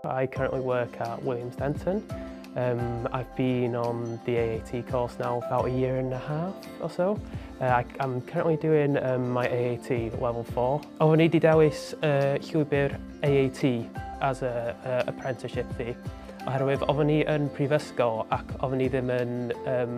I currently work at Williams Denton. Um, I've been on the AAT course now about a year and a half or so. Uh, I, I'm currently doing um, my AAT level 4. Oeddwn i wedi dewis uh, llwybr AAT as a, a apprenticeship fi, oherwydd oeddwn i yn prifysgol ac oeddwn i ddim yn um,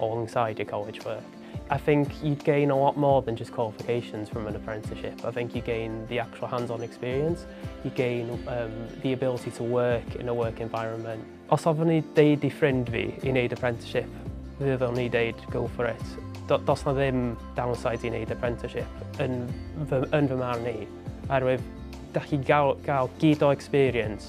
alongside your college work. I think you'd gain a lot more than just qualifications from an apprenticeship. I think you gain the actual hands-on experience, you gain um, the ability to work in a work environment. Os ofyn ni deud i ffrind fi i wneud apprenticeship, fyddwn ni deud go for it. Do, dos na ddim downside i wneud apprenticeship yn fy, yn fy marn i, oherwydd da chi gael, gael gyd o experience